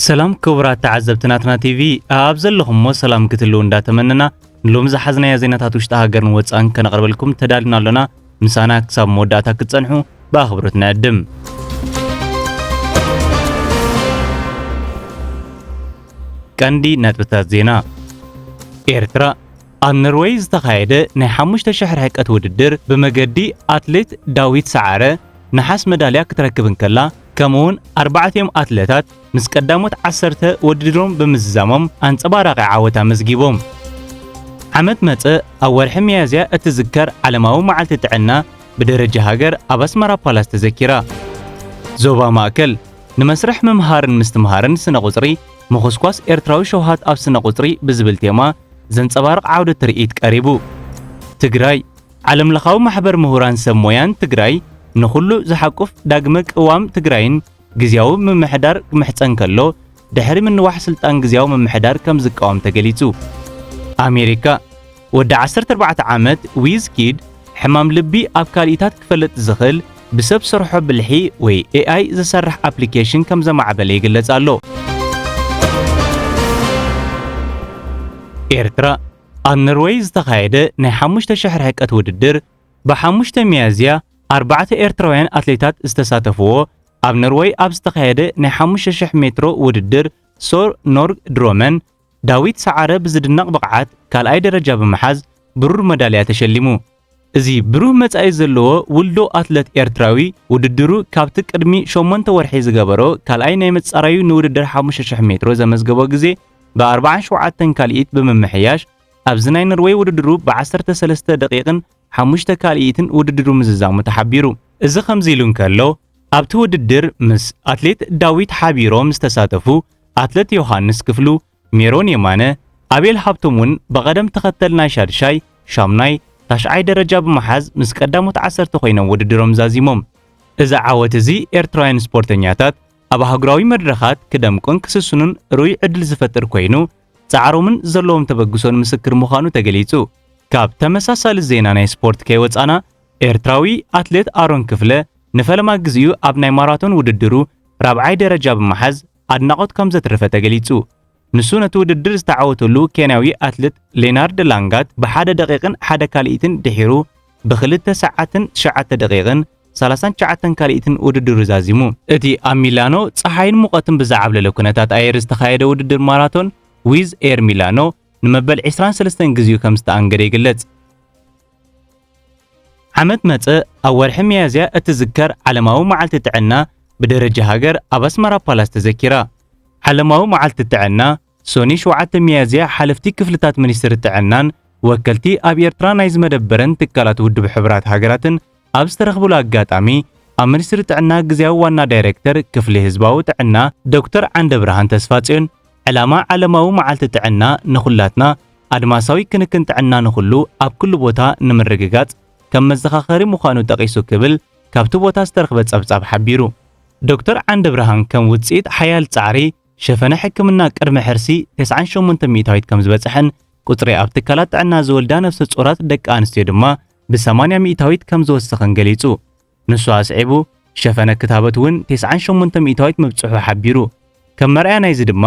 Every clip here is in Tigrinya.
ሰላም ክቡራት ተዓዘብቲ ናትና ቲቪ ኣብ ዘለኹሞ ሰላም ክትልው እንዳተመነና ንሎሚ ዝሓዝናዮ ዜናታት ውሽጢ ሃገርን ወፃን ከነቕርበልኩም ተዳልና ኣሎና። ምሳና ክሳብ መወዳእታ ክትፀንሑ ብኣኽብሮት ንዕድም። ቀንዲ ነጥብታት ዜና ኤርትራ ኣብ ኖርወይ ዝተኻየደ ናይ ሓሙሽተ ሽሕ ርሕቀት ውድድር ብመገዲ ኣትሌት ዳዊት ሰዓረ ነሓስ መዳልያ ክትረክብ እንከላ ከምኡ'ውን ኣርባዕቲኦም ኣትለታት ምስ ቀዳሞት ዓሰርተ ወድድሮም ብምዝዛሞም ኣንጸባራቒ ዓወት ኣመዝጊቦም። ዓመት መጸ ኣብ ወርሒ ሚያዝያ እትዝከር ዓለማዊ መዓልቲ ጥዕና ብደረጃ ሃገር ኣብ ኣስመራ ፓላስ ተዘኪራ። ዞባ ማእከል ንመስርሕ ምምሃርን ምስትምሃርን ስነ ቁጽሪ ምኹስኳስ ኤርትራዊ ሸውሃት ኣብ ስነ ቁጽሪ ብዝብል ቴማ ዘንጸባርቕ ዓውደ ትርኢት ቀሪቡ። ትግራይ፣ ዓለምለኻዊ ማሕበር ምሁራን ሰብ ሞያን ትግራይ ንኹሉ ዝሓቁፍ ዳግመ ቅዋም ትግራይን ግዝያዊ ምምሕዳር ክምሕጸን ከሎ፣ ድሕሪ ምንዋሕ ስልጣን ግዝያዊ ምምሕዳር ከም ዝቃወም ተገሊጹ። ኣሜሪካ፣ ወዲ ዓሰርተ ኣርባዕተ ዓመት ዊዝ ኪድ ሕማም ልቢ ኣብ ካልኢታት ክፈለጥ ዝኽል ብሰብ ሰርሖ ብልሒ ወይ AI ዝሰርሕ ኣፕሊኬሽን ከም ዘማዕበለ ይግለጽ ኣሎ። ኤርትራ፣ ኣብ ኖርወይ ዝተኻየደ ናይ ሓሙሽተ ሽሕ ርሕቀት ውድድር ብሓሙሽተ ሚያዝያ ኣርባዕተ ኤርትራውያን ኣትሌታት ዝተሳተፍዎ ኣብ ኖርወይ ኣብ ዝተኻየደ ናይ ሓሙሽተ ሽሕ ሜትሮ ውድድር ሶር ኖርግ ድሮመን ዳዊት ሰዓረ ብዝድነቕ ብቕዓት ካልኣይ ደረጃ ብምሓዝ ብሩር መዳልያ ተሸሊሙ። እዚ ብሩህ መጻኢ ዘለዎ ውልዶ ኣትለት ኤርትራዊ፣ ውድድሩ ካብቲ ቅድሚ ሸሞንተ ወርሒ ዝገበሮ ካልኣይ ናይ ምጻራዩ ንውድድር ሓሙሽተ ሽሕ ሜትሮ ዘመዝገቦ ግዜ ብ ኣርብዓን ሸውዓተን ካልኢት ብምምሕያሽ ኣብዚ ናይ ኖርወይ ውድድሩ ብ ዓሰርተ ሰለስተ ደቒቕን ሓሙሽተ ካልኢትን ውድድሩ ምዝዛሙ ተሓቢሩ። እዚ ከምዚ ኢሉ እንከሎ፣ ኣብቲ ውድድር ምስ ኣትሌት ዳዊት ሓቢሮም ዝተሳተፉ ኣትለት ዮሃንስ ክፍሉ፣ ሜሮን የማነ፣ ኣቤል ሃብቶም ውን ብቐደም ተኸተል ናይ ሻድሻይ፣ ሻምናይ፣ ታሽዓይ ደረጃ ብምሓዝ ምስ ቀዳሞት ዓሰርተ ኮይኖም ውድድሮም ዛዚሞም። እዚ ዓወት እዚ ኤርትራውያን ስፖርተኛታት ኣብ ኣህጉራዊ መድረኻት ክደምቁን ክስስኑን ርኡይ ዕድል ዝፈጥር ኮይኑ፣ ጻዕሮምን ዘለዎም ተበግሶን ምስክር ምዃኑ ተገሊጹ። ካብ ተመሳሳሊ ዜና ናይ ስፖርት ከይወጻና፣ ኤርትራዊ ኣትሌት ኣሮን ክፍለ ንፈለማ ግዜኡ ኣብ ናይ ማራቶን ውድድሩ ራብዓይ ደረጃ ብምሓዝ ኣድናቖት ከም ዘትረፈ ተገሊጹ። ንሱ ነቲ ውድድር ዝተዓወተሉ ኬንያዊ ኣትልት ሌናርድ ላንጋት ብሓደ ደቒቕን ሓደ ካልኢትን ድሒሩ ብኽልተ ሰዓትን ትሽዓተ ደቒቕን ሰላሳን ትሽዓተን ካልኢትን ውድድሩ ዛዚሙ። እቲ ኣብ ሚላኖ ጸሓይን ሙቐትን ብዝዓብለለ ኩነታት ኣየር ዝተኻየደ ውድድር ማራቶን ዊዝ ኤር ሚላኖ ንመበል ዕስራን ሰለስተን ግዜኡ ከም ዝተኣንገደ ይግለጽ። ዓመት መጸ ኣብ ወርሒ ሚያዝያ እትዝከር ዓለማዊ መዓልቲ ጥዕና ብደረጃ ሃገር ኣብ ኣስመራ ፓላስ ተዘኪራ። ዓለማዊ መዓልቲ ጥዕና ሶኒ 7 ሚያዝያ ሓለፍቲ ክፍልታት ሚኒስትሪ ጥዕናን ወከልቲ ኣብ ኤርትራ ናይ ዝመደበረን ትካላት ውድብ ሕቡራት ሃገራትን ኣብ ዝተረኽብሉ ኣጋጣሚ ኣብ ሚኒስትሪ ጥዕና ግዝያዊ ዋና ዳይሬክተር ክፍሊ ህዝባዊ ጥዕና ዶክተር ዓንደብርሃን ተስፋጽዮን ዕላማ ዓለማዊ መዓልቲ ጥዕና ንኹላትና ኣድማሳዊ ክንክን ጥዕና ንኹሉ ኣብ ኩሉ ቦታ ንምርግጋጽ ከም መዘኻኸሪ ምዃኑ ጠቒሱ ክብል ካብቲ ቦታ ዝተረኽበ ጸብጻብ ሓቢሩ። ዶክተር ዓንደብርሃን ከም ውጽኢት ሓያል ጻዕሪ ሸፈነ ሕክምና ቅድመ ሕርሲ ተስዓን ሸሞንተን ሚእታዊት ከም ዝበጽሐን ቁጽሪ ኣብ ትካላት ጥዕና ዝወልዳ ነፍሰ ጾራት ደቂ ኣንስትዮ ድማ ብሰማንያ ሚኢታዊት ከም ዝወሰኸን ገሊጹ። ንሱ ኣስዒቡ፣ ሸፈነ ክታበት እውን ቴስዓን ሸሞንተ ሚኢታዊት ምብጽሑ ሓቢሩ። ከም መርኣያ ናይዚ ድማ፣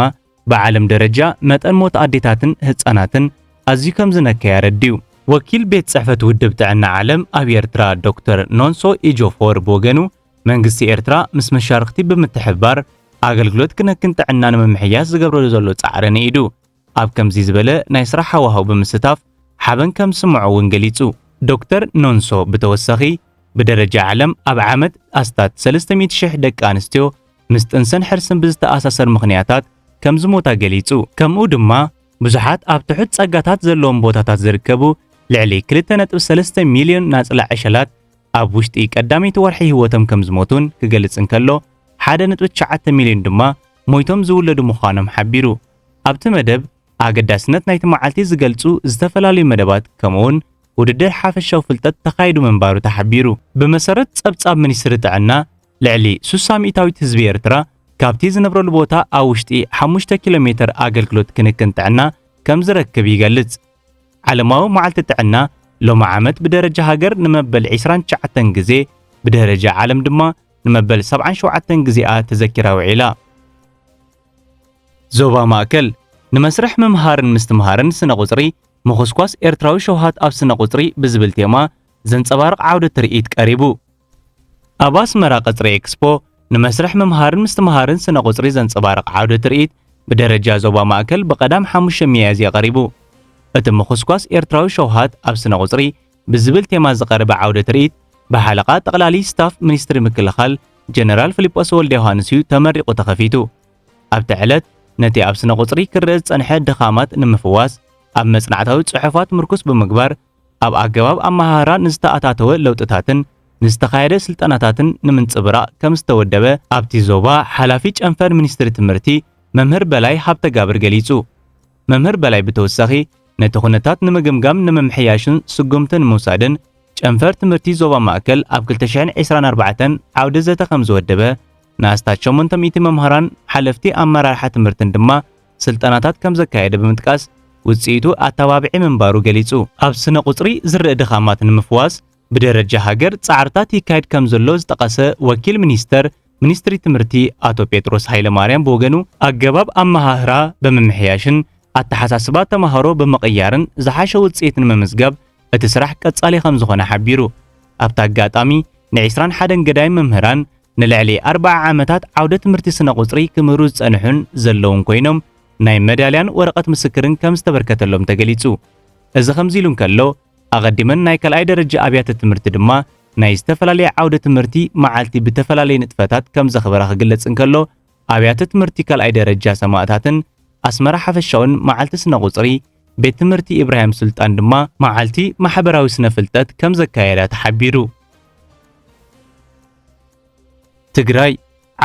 ብዓለም ደረጃ መጠን ሞት ኣዴታትን ህጻናትን ኣዝዩ ከም ዝነከየ ኣረዲኡ። ወኪል ቤት ጽሕፈት ውድብ ጥዕና ዓለም ኣብ ኤርትራ ዶክተር ኖንሶ ኢጆፎር ብወገኑ፣ መንግስቲ ኤርትራ ምስ መሻርኽቲ ብምትሕብባር ኣገልግሎት ክንክን ጥዕና ንምምሕያሽ ዝገብረሉ ዘሎ ጻዕሪ ንኢዱ። ኣብ ከምዚ ዝበለ ናይ ስራሕ ሃዋህው ብምስታፍ ሓበን ከም ዝስምዖ እውን ገሊጹ። ዶክተር ኖንሶ ብተወሳኺ፣ ብደረጃ ዓለም ኣብ ዓመት ኣስታት ሰለስተ ሚእቲ ሽሕ ደቂ ኣንስትዮ ምስ ጥንሰን ሕርስን ብዝተኣሳሰር ምኽንያታት ከም ዝሞታ ገሊጹ። ከምኡ ድማ ብዙሓት ኣብ ትሑት ጸጋታት ዘለዎም ቦታታት ዝርከቡ ልዕሊ ክልተ ነጥቢ ሰለስተ ሚልዮን ናጽላ ዕሸላት ኣብ ውሽጢ ቀዳመይቲ ወርሒ ህይወቶም ከም ዝሞቱን ክገልጽ እንከሎ፣ ሓደ ነጥቢ ትሽዓተ ሚልዮን ድማ ሞይቶም ዝውለዱ ምዃኖም ሓቢሩ። ኣብቲ መደብ ኣገዳስነት ናይቲ መዓልቲ ዝገልጹ ዝተፈላለዩ መደባት ከምኡውን ውድድር ሓፈሻዊ ፍልጠት ተኻይዱ ምንባሩ ተሓቢሩ። ብመሰረት ጸብጻብ ሚኒስትሪ ጥዕና፣ ልዕሊ ሱሳ ሚእታዊት ህዝቢ ኤርትራ ካብቲ ዝነብረሉ ቦታ ኣብ ውሽጢ ሓሙሽተ ኪሎ ሜተር ኣገልግሎት ክንክን ጥዕና ከም ዝረክብ ይገልጽ። ዓለማዊ መዓልቲ ጥዕና ሎሚ ዓመት ብደረጃ ሃገር ንመበል ዒስራን ትሽዓተን ግዜ ብደረጃ ዓለም ድማ ንመበል ሰብዓን ሸውዓተን ግዜኣ ተዘኪራ ውዒላ። ዞባ ማእከል ንመስርሕ ምምሃርን ምስትምሃርን ስነ ቁጽሪ ምኹስኳስ ኤርትራዊ ሸውሃት ኣብ ስነ ቁጽሪ ብዝብል ቴማ ዘንጸባርቕ ዓውደ ትርኢት ቀሪቡ። ኣብ ኣስመራ ቀጽሪ ኤክስፖ ንመስርሕ ምምሃርን ምስትምሃርን ስነ ቁጽሪ ዘንጸባርቕ ዓውደ ትርኢት ብደረጃ ዞባ ማእከል ብቀዳም ሓሙሽተ ሚያዝያ ቀሪቡ። እቲ ምኹስኳስ ኤርትራዊ ሸውሃት ኣብ ስነ ቁጽሪ ብዝብል ቴማ ዝቐረበ ዓውደ ትርኢት ብሓለቓ ጠቕላሊ ስታፍ ሚኒስትሪ ምክልኻል ጀነራል ፍሊጶስ ወልደዮሃንስ እዩ ተመሪቑ ተኸፊቱ። ኣብቲ ዕለት ነቲ ኣብ ስነ ቁጽሪ ክረኣ ዝጸንሐ ድኻማት ንምፍዋስ ኣብ መጽናዕታዊ ጽሑፋት ምርኩስ ብምግባር ኣብ ኣገባብ ኣመሃህራ ንዝተኣታተወ ለውጥታትን ንዝተኻየደ ስልጠናታትን ንምንጽብራቕ ከም ዝተወደበ ኣብቲ ዞባ ሓላፊ ጨንፈር ሚኒስትሪ ትምህርቲ መምህር በላይ ሃብተጋብር ገሊጹ። መምህር በላይ ብተወሳኺ ነቲ ኩነታት ንምግምጋም ንምምሕያሽን ስጉምቲ ንምውሳድን ጨንፈር ትምህርቲ ዞባ ማእከል ኣብ 2024 ዓውደ ዘተ ከም ዝወደበ ንኣስታት 800 መምህራን ሓለፍቲ ኣመራርሓ ትምህርትን ድማ ስልጠናታት ከም ዘካየደ ብምጥቃስ ውጽኢቱ ኣተባብዒ ምንባሩ ገሊጹ። ኣብ ስነ ቁጽሪ ዝርእ ድኻማት ንምፍዋስ ብደረጃ ሃገር ፃዕርታት ይካየድ ከምዘሎ ዝጠቐሰ ወኪል ሚኒስተር ሚኒስትሪ ትምህርቲ ኣቶ ጴጥሮስ ሃይለማርያም ብወገኑ ኣገባብ ኣመሃህራ ብምምሕያሽን ኣተሓሳስባ ተምሃሮ ብምቕያርን ዝሓሸ ውፅኢት ንምምዝጋብ እቲ ስራሕ ቀፃሊ ከምዝኾነ ሓቢሩ። ኣብቲ ኣጋጣሚ ንዒስራን ሓደን ገዳይም መምህራን ንልዕሊ ኣርብዓ ዓመታት ዓውደ ትምህርቲ ስነ ቁፅሪ ክምህሩ ዝፀንሑን ዘለውን ኮይኖም ናይ መዳልያን ወረቐት ምስክርን ከምዝተበርከተሎም ተገሊፁ። እዚ ከምዚ ኢሉ እንከሎ ኣቐዲመን ናይ ካልኣይ ደረጃ ኣብያተ ትምህርቲ ድማ ናይ ዝተፈላለየ ዓውደ ትምህርቲ መዓልቲ ብተፈላለየ ንጥፈታት ከም ዘኽበራ ክግለጽ እንከሎ ኣብያተ ትምህርቲ ካልኣይ ደረጃ ሰማእታትን ኣስመራ ሓፈሻውን መዓልቲ ስነ ቁጽሪ ቤት ትምህርቲ ኢብራሂም ሱልጣን ድማ መዓልቲ ማሕበራዊ ስነ ፍልጠት ከም ዘካየዳ ተሓቢሩ። ትግራይ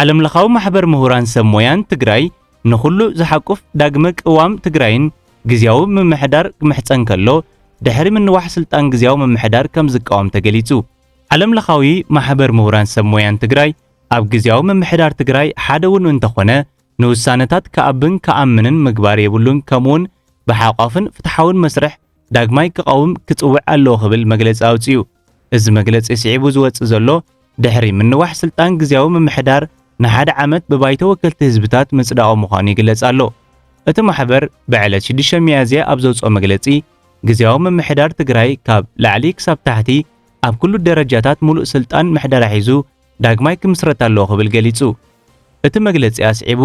ዓለምለኻዊ ማሕበር ምሁራን ሰብ ሞያን ትግራይ ንኹሉ ዝሓቁፍ ዳግመ ቅዋም ትግራይን ግዝያዊ ምምሕዳር ክምሕጸን ከሎ ድሕሪ ምንዋሕ ስልጣን ግዝያዊ ምምሕዳር ከም ዝቃወም ተገሊጹ። ዓለምለኻዊ ማሕበር ምሁራን ሰብ ሞያን ትግራይ ኣብ ግዝያዊ ምምሕዳር ትግራይ ሓደ እውን እንተኾነ ንውሳነታት ክኣብን ክኣምንን ምግባር የብሉን ከምኡውን ብሓቋፍን ፍትሓውን መስርሕ ዳግማይ ክቐውም ክጽውዕ ኣለዎ ክብል መግለጺ ኣውጺኡ። እዚ መግለጺ ስዒቡ ዝወጽእ ዘሎ፣ ድሕሪ ምንዋሕ ስልጣን ግዝያዊ ምምሕዳር ንሓደ ዓመት ብባይቶ ወከልቲ ህዝብታት ምጽዳቑ ምዃኑ ይግለጽ ኣሎ። እቲ ማሕበር ብዕለት ሽዱሽተ ሚያዝያ ኣብ ዘውጽኦ መግለጺ፣ ግዝያዊ ምምሕዳር ትግራይ ካብ ላዕሊ ክሳብ ታሕቲ ኣብ ኩሉ ደረጃታት ሙሉእ ስልጣን ምሕደራ ሒዙ ዳግማይ ክምስረት ኣለዎ ክብል ገሊጹ። እቲ መግለጺ ኣስዒቡ፣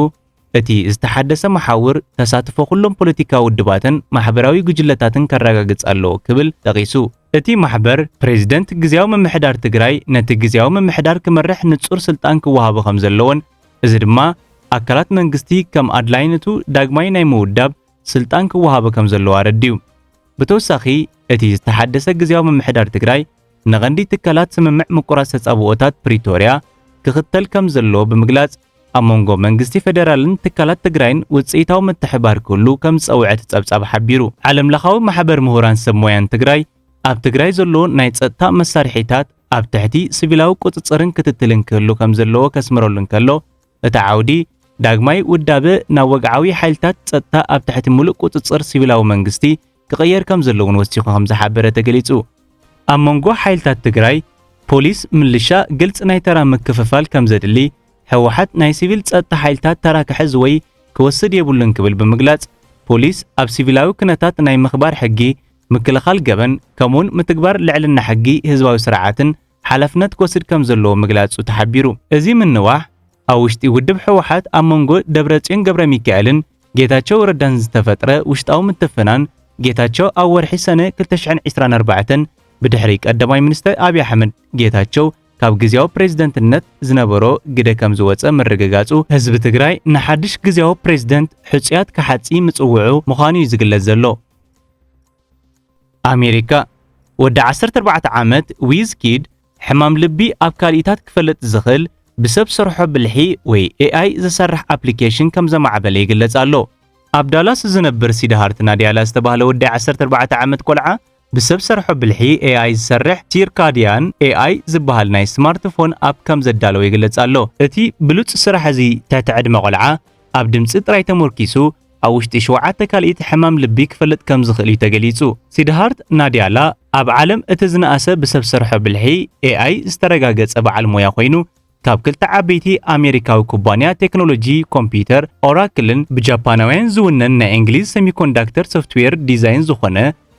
እቲ ዝተሓደሰ መሓውር ተሳትፎ ኩሎም ፖለቲካዊ ውድባትን ማሕበራዊ ጉጅለታትን ከረጋግጽ ኣለዎ ክብል ጠቒሱ። እቲ ማሕበር፣ ፕሬዚደንት ግዝያዊ ምምሕዳር ትግራይ ነቲ ግዝያዊ ምምሕዳር ክመርሕ ንጹር ስልጣን ክወሃቦ ከምዘለዎን እዚ ድማ ኣካላት መንግስቲ ከም ኣድላይነቱ ዳግማይ ናይ ምውዳብ ስልጣን ክወሃቦ ከምዘለዎ ኣረዲኡ። ብተወሳኺ እቲ ዝተሓደሰ ግዝያዊ ምምሕዳር ትግራይ፣ ንቐንዲ ትካላት ስምምዕ ምቁራጽ ተጻብኦታት ፕሪቶርያ ክኽተል ከም ዘለዎ ብምግላጽ ኣብ መንጎ መንግስቲ ፈደራልን ትካላት ትግራይን ውጽኢታዊ ምትሕብባር ክህሉ ከም ዝጸውዐ እቲ ጸብጻብ ሓቢሩ። ዓለምለኻዊ ማሕበር ምሁራን ሰብ ሞያን ትግራይ ኣብ ትግራይ ዘሎ ናይ ጸጥታ መሳርሒታት ኣብ ትሕቲ ሲቪላዊ ቁጽጽርን ክትትልን ክህሉ ከም ዘለዎ ከስምረሉ እንከሎ እቲ ዓውዲ ዳግማይ ውዳበ ናብ ወግዓዊ ሓይልታት ጸጥታ ኣብ ትሕቲ ምሉእ ቁጽጽር ሲቪላዊ መንግስቲ ክቕየር ከምዘለዎን ወሲኹ ከምዝሓበረ ተገሊፁ። ኣብ መንጎ ሓይልታት ትግራይ፣ ፖሊስ፣ ምልሻ ግልፂ ናይ ተራ ምክፍፋል ከምዘድሊ፣ ህወሓት ናይ ሲቪል ፀጥታ ሓይልታት ተራ ክሕዝ ወይ ክወስድ የብሉን ክብል ብምግላፅ፣ ፖሊስ ኣብ ሲቪላዊ ክነታት ናይ ምኽባር ሕጊ፣ ምክልኻል ገበን ከምኡውን ምትግባር ልዕልና ሕጊ ህዝባዊ ስርዓትን ሓላፍነት ክወስድ ከም ዘለዎ ምግላጹ ተሓቢሩ። እዚ ምንዋሕ ኣብ ውሽጢ ውድብ ህወሓት ኣብ መንጎ ደብረጽዮን ገብረሚካኤልን ጌታቸው ረዳን ዝተፈጥረ ውሽጣዊ ምትፍናን፣ ጌታቸው ኣብ ወርሒ ሰነ ክልተ ሽሕን ዕስራን ኣርባዕተን ብድሕሪ ቀዳማይ ሚኒስተር ኣብይ ኣሕመድ፣ ጌታቸው ካብ ግዝያዊ ፕሬዝደንትነት ዝነበሮ ግደ ከም ዝወጸ ምርግጋጹ፣ ህዝቢ ትግራይ ንሓድሽ ግዝያዊ ፕሬዝደንት ሕጹያት ክሓጺ ምጽውዑ ምዃኑ'ዩ ዝግለጽ ዘሎ። ኣሜሪካ፣ ወዲ ዓሰርተ ኣርባዕተ ዓመት ዊዝ ኪድ ሕማም ልቢ ኣብ ካልኢታት ክፈለጥ ዝኽእል ብሰብ ሰርሖ ብልሒ ወይ AI ዝሰርሕ ኣፕሊኬሽን ከም ዘማዕበለ ይግለጽ ኣሎ። ኣብ ዳላስ ዝነብር ሲድሃርት ናድያላ ዝተባህለ ወዲ ዓሰርተ ኣርባዕተ ዓመት ቆልዓ ብሰብ ሰርሖ ብልሒ AI ዝሰርሕ ሲርካድያን AI ዝበሃል ናይ ስማርትፎን ኣፕ ከም ዘዳለወ ይግለጽ ኣሎ። እቲ ብሉጽ ስራሕ እዚ ትሕቲ ዕድመ ቆልዓ ኣብ ድምጺ ጥራይ ተሞርኪሱ ኣብ ውሽጢ ሸውዓተ ካልኢት ሕማም ልቢ ክፈልጥ ከም ዝኽእል'ዩ ተገሊጹ። ሲድሃርት ናድያላ ኣብ ዓለም እቲ ዝነኣሰ ብሰብ ሰርሖ ብልሒ፣ AI፣ ዝተረጋገጸ በዓል ሞያ ኮይኑ፣ ካብ ክልተ ዓበይቲ ኣሜሪካዊ ኩባንያ ቴክኖሎጂ ኮምፕዩተር ኦራክልን ብጃፓናውያን ዝውነን ናይ እንግሊዝ ሰሚኮንዳክተር ሶፍትዌር ዲዛይን ዝኾነ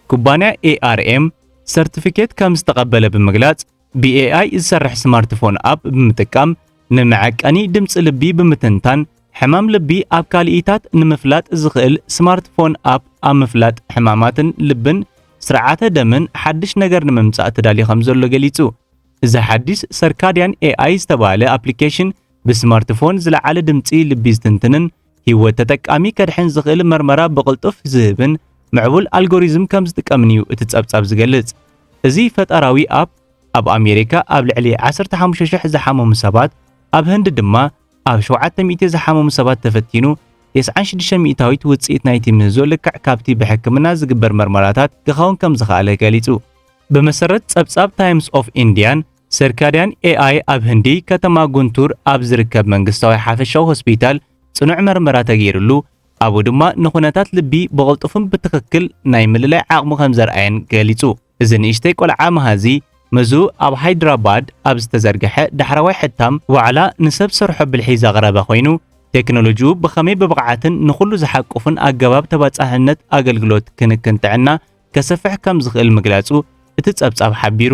ኩባንያ ARM ሰርቲፊኬት ከም ዝተቐበለ ብምግላጽ፣ ብኤኣይ ዝሰርሕ ስማርትፎን ኣፕ ብምጥቃም ንመዐቀኒ ድምፂ ልቢ ብምትንታን ሕማም ልቢ ኣብ ካልኢታት ንምፍላጥ ዝኽእል ስማርትፎን ኣፕ ኣብ ምፍላጥ ሕማማትን ልብን ስርዓተ ደምን ሓድሽ ነገር ንምምጻእ ተዳልዩ ከም ዘሎ ገሊጹ። እዚ ሓድሽ ሰርካድያን ኤኣይ ዝተባህለ ኣፕሊኬሽን ብስማርትፎን ዝለዓለ ድምጺ ልቢ ዝትንትንን ህይወት ተጠቃሚ ከድሕን ዝኽእል መርመራ ብቕልጡፍ ዝህብን ምዕቡል ኣልጎሪዝም ከም ዝጥቀምን እዩ እቲ ጸብጻብ ዝገልጽ። እዚ ፈጠራዊ ኣፕ ኣብ ኣሜሪካ ኣብ ልዕሊ 15,000 ዝሓመሙ ሰባት፣ ኣብ ህንዲ ድማ ኣብ 700 ዝሓመሙ ሰባት ተፈቲኑ 96 ሚእታዊት ውጽኢት ናይቲ ምህዞ ልክዕ ካብቲ ብሕክምና ዝግበር መርመራታት ክኸውን ከም ዝኸኣለ ገሊጹ። ብመሰረት ጸብጻብ ታይምስ ኦፍ ኢንድያን ሰርካድያን ኤኣይ ኣብ ህንዲ ከተማ ጉንቱር ኣብ ዝርከብ መንግስታዊ ሓፈሻዊ ሆስፒታል ጽኑዕ መርመራ ተገይርሉ፣ ኣብኡ ድማ ንኹነታት ልቢ ብቕልጡፍን ብትኽክል ናይ ምልላይ ዓቕሚ ከም ዘርኣየን ገሊጹ። እዚ ንእሽተይ ቆልዓ መሃዚ መዝኡ ኣብ ሃይድራባድ ኣብ ዝተዘርግሐ ዳሕረዋይ ሕታም ዋዕላ ንሰብ ሰርሖ ብልሒ ዘቕረበ ኮይኑ፣ ቴክኖሎጂኡ ብኸመይ ብብቕዓትን ንኹሉ ዝሓቁፍን ኣገባብ ተባጻሕነት ኣገልግሎት ክንክን ጥዕና ከሰፍሕ ከም ዝኽእል ምግላጹ እቲ ጸብጻብ ሓቢሩ።